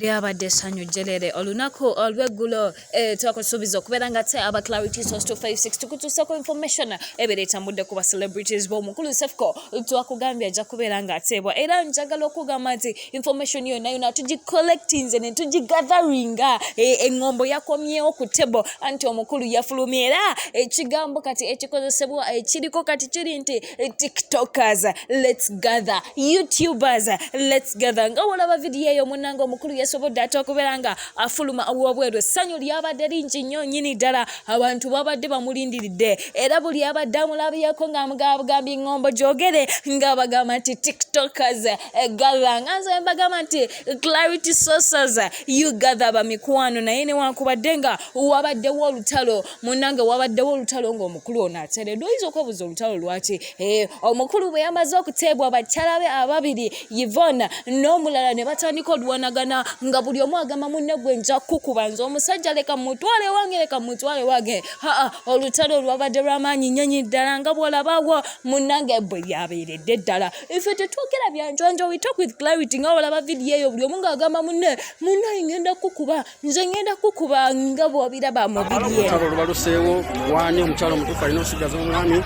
lyabadde essanyu jjerere olunaku olw'eggulo eh, twakusuubiza okubeera nga te aba clarity source 256 tukutuusako information ebeera etambudde ku bacelebrities b'omukulu sefco twakugambye ajja kubeera ng'ateebwa era njagala okugamba nti information yonna yona tugicollectinze ne tugigatheringa eh, eŋŋombo yakomyewo ku table anti omukulu yafulumye era ekigambo kati ekikozesebwa ekiriko kati kiri nti tiktokers lets gather youtubers lets gather nga wolaba vidiyo eyo munanga omukulu yasobodde ate okubeera nga afuluma awobweru essanyu lyabadde lingi nnyo nyini ddala abantu babadde bamulindiridde era buli abadde amulabyeko ngaamugaabugambye ngombo gyogere nga bagamba nti tiktokers gather nga nze mbagamba nti clarity sources you gather bamikwano naye newankubadde nga wabaddewo olutalo munange wabaddewo olutalo ng'omukulu ono ateredwa oyinza okwebuza olutalo lwaki eh, omukulu bwe yamaze okuteebwa bakyala be ababiri yvona n'omulala ne batandika oluwanagana nga buli omu agamba munne gwe nja kukuba nze omusajja leka mutwale wange leka mutwale wange haa olutalo olwabadde lw'amaanyi nnyonyi ddala nga bw'olabawo munange bwe lyabeeredde ddala ife tetwogera byanjwanjo we talk with clarity nga olaba vidiyo eyo buli omu ng'agamba munne munne ngenda kukuba nze ngenda kukuba nga bwobiraba mubibyolutalo lubaluseewo wani omukyalo omutuufu alina osigaza omwami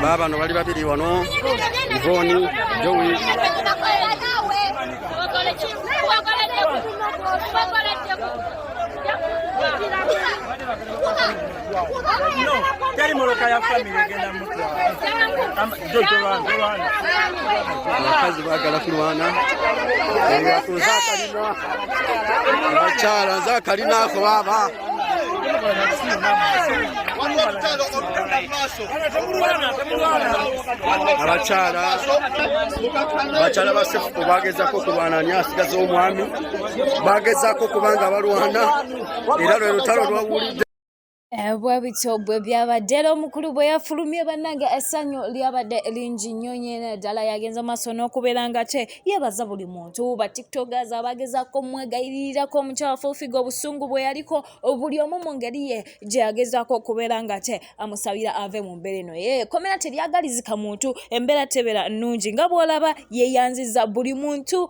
baabano bali babiri wano ivoni jowi teri moloka ya famire egenda mutwalabakazi bagala kulwana abakyala nze akalinako baba abakyala bakyala basefu bagezako kulwana ni asigaza omwami bagezako kubanga balwana era lwe lutalo lwawulidde eh, bwe bityo bwe byabadde era omukulu bwe yafulumye bannange essanyu lyabadde lingi nnyo nyene ddala yagenza maaso n'okubeera nga te yebaza buli muntu batiktokers abagezako omwegayiririrako omukyala fufiga obusungu bwe yaliko buli omu mu ngeri ye gye yagezako okubeera nga te amusabira ave mu mbeera eno ye komera teryagalizika muntu embeera tebeera nnungi nga bw'olaba yeyanziza buli muntu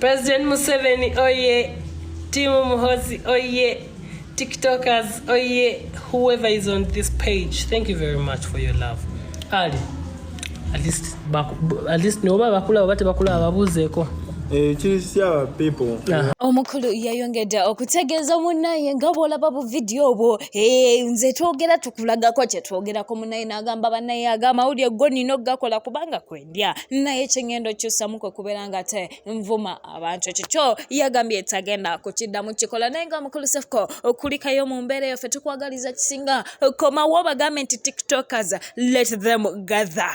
President Museveni oye, Timu Muhozi oye, TikTokers oye, whoever is on this page. Thank you very much for your love. Ali, at least, at least noba bakula oba tebakula ababuuzeeko. Eh, omukulu yayongedde okutegeeza munaye nga bwolaba bu vidiyo obwo eh, nze twogera tukulagako kyetwogerako munaye nagamba banaye agamawulire go nina okugakola kubanga kwe bya naye kyengendo kyusamu kwe kubeera nga te nvuma abantu ekyo kyo yagambye tagenda kukiddamu kikola naye nga mukulu sefuko okulikayo mu mbeera eyo ffe tukwagaliza kisinga komawo bagambe nti tiktokers let them gather